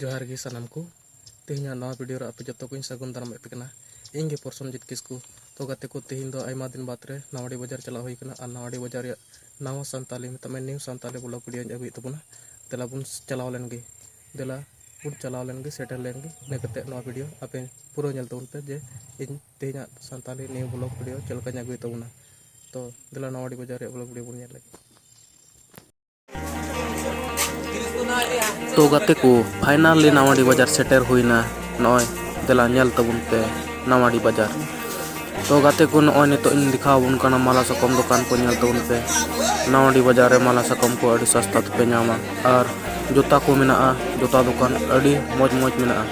ᱡᱚᱦᱟᱨ ᱜᱮ ᱥᱟᱱᱟᱢ ᱠᱚ ᱛᱮᱦᱮᱧᱟᱜ ᱱᱟᱣᱟ ᱵᱷᱤᱰᱤᱭᱳ ᱨᱮ ᱟᱯᱮ ᱡᱚᱛᱚ ᱠᱚᱧ ᱥᱟᱹᱜᱩᱱ ᱫᱟᱨᱟᱢᱮᱫ ᱯᱮ ᱠᱟᱱᱟ ᱤᱧ ᱜᱮ ᱯᱨᱚᱥᱚᱱᱡᱤᱛ ᱠᱤᱥᱠᱩ ᱛᱚ ᱜᱟᱛᱮ ᱠᱚ ᱛᱮᱦᱮᱧ ᱫᱚ ᱟᱭᱢᱟ ᱫᱤᱱ ᱵᱟᱫᱽ ᱨᱮ ᱱᱟᱣᱟᱰᱤ ᱵᱟᱡᱟᱨ ᱪᱟᱞᱟᱣ ᱦᱩᱭ ᱠᱟᱱᱟ ᱟᱨ ᱱᱟᱣᱟᱰᱤ ᱵᱟᱡᱟᱨ ᱨᱮᱭᱟᱜ ᱱᱟᱣᱟ ᱥᱟᱱᱛᱟᱞᱤ ᱢᱮᱛᱟᱜ ᱢᱮ ᱱᱤᱭᱩ ᱥᱟᱱᱛᱟᱞᱤ ᱵᱞᱚᱜ ᱵᱷᱤᱰᱤᱭᱳᱧ ᱟᱹᱜᱩᱭᱮᱫ ᱛᱟᱵᱚᱱᱟ ᱫᱮᱞᱟ ᱵᱚᱱ ᱪᱟᱞᱟᱣ ᱞᱮᱱ ᱜᱮ ᱫᱮᱞᱟ ᱵᱚᱱ ᱪᱟᱞᱟᱣ ᱞᱮᱱ ᱜᱮ ᱥᱮᱴᱮᱨ ᱞᱮᱱ ᱜᱮ ᱤᱱᱟᱹ ᱠᱟᱛᱮ ᱱᱚᱣᱟ ᱵᱷᱤᱰᱤᱭᱳ ᱟᱯᱮ ᱯᱩᱨᱟᱹ ᱧᱮᱞ ᱛᱟᱵᱚᱱ ᱯᱮ ᱡᱮ ᱤᱧ ᱛᱮᱦᱮᱧᱟᱜ ᱥᱟᱱᱛᱟᱞᱤ ᱱᱤᱭᱩ ᱵᱞᱚᱜ ᱵᱷᱤᱰᱤᱭᱳ ᱪᱮᱫ ᱞᱮᱠᱟᱧ ᱟᱹᱜᱩᱭᱮᱫ ᱛᱟᱵᱚᱱᱟ ᱛᱚ ᱫᱮᱞᱟ ᱱᱟᱣᱟᱰᱤ ᱵᱟᱡᱟᱨ ᱨᱮᱭᱟᱜ ᱵᱞᱚᱜ ᱵᱷᱤᱰᱤᱭᱳ ᱵᱚᱱ ᱧᱮᱞ ᱞᱮᱜᱮ ᱛᱚ ᱜᱟᱛᱮ ᱠᱚ ᱯᱷᱟᱭᱱᱟᱞᱤ ᱱᱟᱣᱟᱰᱤ ᱵᱟᱡᱟᱨ ᱥᱮᱴᱮᱨ ᱦᱩᱭᱱᱟ ᱱᱚᱜᱼᱚᱭ ᱫᱮᱞᱟ ᱧᱮᱞ ᱛᱟᱵᱚᱱ ᱯᱮ ᱱᱟᱣᱟᱰᱤ ᱵᱟᱡᱟᱨ ᱛᱚ ᱜᱟᱛᱮ ᱠᱚ ᱱᱚᱜᱼᱚᱭ ᱱᱤᱛᱚᱜ ᱤᱧ ᱫᱮᱠᱷᱟᱣ ᱟᱵᱚᱱ ᱠᱟᱱᱟ ᱢᱟᱞᱟ ᱥᱟᱠᱚᱢ ᱫᱚᱠᱟᱱ ᱠᱚ ᱧᱮᱞ ᱛᱟᱵᱚᱱ ᱯᱮ ᱱᱟᱣᱟᱰᱤ ᱵᱟᱡᱟᱨ ᱨᱮ ᱢᱟᱞᱟ ᱥᱟᱠᱚᱢ ᱠᱚ ᱟᱹᱰᱤ ᱥᱟᱥᱛᱟ ᱛᱮᱯᱮ ᱧᱟᱢᱟ ᱟᱨ ᱡᱩᱛᱟ ᱠᱚ ᱢᱮᱱᱟᱜᱼᱟ ᱡᱩᱛᱟ ᱫᱚᱠᱟᱱ ᱟᱹᱰᱤ ᱢᱚᱡᱽ ᱢᱚᱡᱽ ᱢᱮᱱᱟᱜᱼᱟ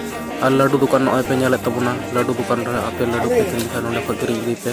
ᱟᱨ ᱞᱟᱹᱰᱩ ᱫᱚᱠᱟᱱ ᱱᱚᱜᱼᱚᱭ ᱯᱮ ᱧᱮᱞᱮᱫ ᱛᱟᱵᱚᱱᱟ ᱞᱟᱹᱰᱩ ᱫᱚᱠᱟᱱ ᱨᱮ ᱟᱯᱮ ᱞᱟᱹᱰᱩ ᱯᱮ ᱠᱤᱨᱤᱧ ᱠᱷᱟᱱ ᱱᱚᱸᱰᱮ ᱠᱷᱚᱱ ᱠᱤᱨᱤᱧ ᱤᱫᱤᱭ ᱯᱮ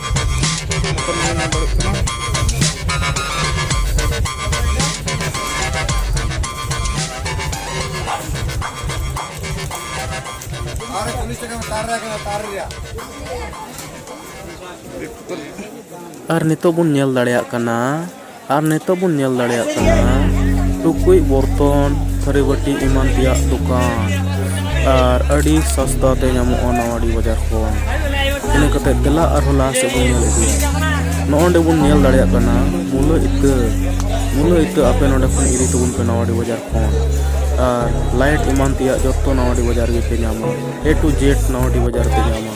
ᱟᱨ ᱱᱤᱛᱚᱜ ᱵᱚᱱ ᱧᱮᱞ ᱫᱟᱲᱮᱭᱟᱜ ᱠᱟᱱᱟ ᱟᱨ ᱱᱤᱛᱚᱜ ᱵᱚᱱ ᱧᱮᱞ ᱫᱟᱲᱮᱭᱟᱜ ᱠᱟᱱᱟ ᱴᱩᱠᱩᱡ ᱵᱚᱨᱛᱚᱱ ᱛᱷᱟᱹᱨᱤ ᱵᱟᱹᱴᱤ ᱮᱢᱟᱱ ᱛᱮᱭᱟᱜ ᱫᱚᱠᱟᱱ ᱟᱨ ᱟᱹᱰᱤ ᱥᱚᱥᱛᱟ ᱛᱮ ᱧᱟᱢᱚᱜᱼᱟ ᱱᱟᱣᱟᱰᱤ ᱵᱟᱡᱟᱨ ᱠᱷᱚᱱ ᱤᱱᱟᱹ ᱠᱟᱛᱮ ᱫᱮᱞᱟ ᱟᱨᱦᱚᱸ ᱞᱟᱦᱟ ᱥᱮᱫ ᱵᱚᱱ ᱧᱮᱞ ᱤᱫᱤᱭᱟ ᱱᱚᱜᱼᱚ ᱱᱚᱰᱮ ᱵᱚᱱ ᱧᱮᱞ ᱫᱟᱲᱮᱭᱟᱜ ᱠᱟᱱᱟ ᱢᱩᱞᱟᱹ ᱤᱛᱟᱹ ᱢᱩᱞᱟᱹ ᱤᱛᱟᱹ ᱟᱯᱮ ᱱᱚᱰᱮ ᱠᱷᱚᱱ ᱤᱫᱤ ᱛᱟᱵᱚᱱ ᱯᱮ ᱱᱟᱣᱟᱰᱤ ᱵᱟᱡᱟᱨ ᱠᱷᱚᱱ ᱟᱨ ᱞᱟᱭᱤᱴ ᱮᱢᱟᱱ ᱛᱮᱭᱟᱜ ᱡᱚᱛᱚ ᱱᱟᱣᱟᱰᱤ ᱵᱟᱡᱟᱨ ᱨᱮᱜᱮ ᱯᱮ ᱧᱟᱢᱟ ᱮ ᱴᱩ ᱡᱮᱰ ᱱᱟᱣᱟᱰᱤ ᱵᱟᱡᱟᱨ ᱨᱮᱯᱮ ᱧᱟᱢᱟ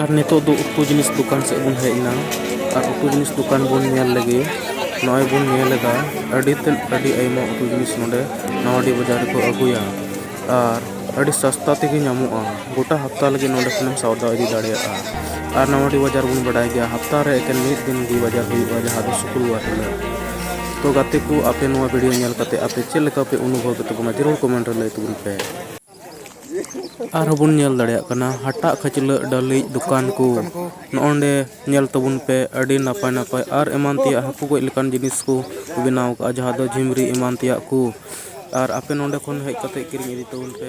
ᱟᱨ ᱱᱤᱛᱚᱜ ᱫᱚ ᱩᱛᱩ ᱡᱤᱱᱤᱥ ᱫᱚᱠᱟᱱ ᱥᱮᱫ ᱵᱚᱱ ᱦᱮᱡ ᱮᱱᱟ ᱟᱨ ᱩᱛᱩ ᱡᱤᱱᱤᱥ ᱫᱚᱠᱟᱱ ᱵᱚᱱ ᱧᱮᱞ ᱞᱮᱜᱮ ᱱᱚᱜᱼᱚᱭ ᱵᱚᱱ ᱧᱮᱞ ᱮᱫᱟ ᱟᱹᱰᱤ ᱛᱮᱫ ᱟᱹᱰᱤ ᱟᱭᱢᱟ ᱩᱛᱩ ᱡᱤᱱᱤᱥ ᱱᱚᱰᱮ ᱱᱟᱣᱟᱰᱤ ᱵᱟᱡᱟᱨ ᱨᱮᱠᱚ ᱟᱹᱜᱩᱭᱟ ᱟᱨ ᱟᱹᱰᱤ ᱥᱟᱥᱛᱟ ᱛᱮᱜᱮ ᱧᱟᱢᱚᱜᱼᱟ ᱜᱚᱴᱟ ᱦᱟᱯᱛᱟ ᱞᱟᱹᱜᱤᱫ ᱱᱚᱰᱮ ᱠᱷᱚᱱᱮᱢ ᱥᱟᱣᱫᱟ ᱤᱫᱤ ᱫᱟᱲᱮᱭᱟᱜᱼᱟ ᱟᱨ ᱱᱟᱣᱟᱰᱤ ᱵᱟᱡᱟᱨ ᱵᱚᱱ ᱵᱟᱰᱟᱭ ᱜᱮᱭᱟ ᱦᱟᱯᱛᱟ ᱨᱮ ᱮᱠᱮᱱ ᱢᱤᱫ ᱫᱤᱱ ᱜᱮ ᱵᱟᱡᱟᱨ ᱦᱩᱭᱩᱜᱼᱟ ᱡᱟᱦᱟᱸ ᱫᱚ ᱥᱩᱠᱨᱚᱵᱟᱨ ᱦᱤᱞᱳᱜ ᱛᱚ ᱜᱟᱛᱮ ᱠᱚ ᱟᱯᱮ ᱱᱚᱣᱟ ᱵᱷᱤᱰᱤᱭᱳ ᱧᱮᱞ ᱠᱟᱛᱮᱫ ᱟᱯᱮ ᱪᱮᱫ ᱞᱮᱠᱟ ᱯᱮ ᱚᱱᱩᱵᱷᱚᱵᱽ ᱮᱫ ᱛᱟᱵᱚᱱᱟ ᱡᱟᱹᱨᱩᱲ ᱠᱚᱢᱮᱱᱴ ᱨᱮ ᱞᱟᱹᱭ ᱛᱟᱵᱚᱱ ᱯᱮ ᱟᱨᱦᱚᱸ ᱵᱚᱱ ᱧᱮᱞ ᱫᱟᱲᱮᱭᱟᱜ ᱠᱟᱱᱟ ᱦᱟᱴᱟᱜ ᱠᱷᱟᱹᱪᱞᱟᱹᱜ ᱰᱟᱹᱞᱤᱡ ᱫᱚᱠᱟᱱ ᱠᱚ ᱱᱚᱸᱰᱮ ᱧᱮᱞ ᱛᱟᱵᱚᱱ ᱯᱮ ᱟᱹᱰᱤ ᱱᱟᱯᱟᱭ ᱱᱟᱯᱟᱭ ᱟᱨ ᱮᱢᱟᱱ ᱛᱮᱭᱟᱜ ᱦᱟᱹᱠᱩ ᱜᱚᱡ ᱞᱮᱠᱟᱱ ᱡᱤᱱᱤᱥ ᱠᱚ ᱵᱮᱱᱟᱣ ᱠᱟᱜᱼᱟ ᱡᱟᱦᱟᱸ ᱫᱚ ᱡᱷᱤᱢᱨᱤ ᱮᱢᱟᱱ ᱛᱮᱭᱟᱜ ᱠᱚ ᱟᱨ ᱟᱯᱮ ᱱᱚᱸᱰᱮ ᱠᱷᱚᱱ ᱦᱮᱡ ᱠᱟᱛᱮ ᱠᱤᱨᱤᱧ ᱤᱫᱤ ᱛᱟᱵᱚᱱ ᱯᱮ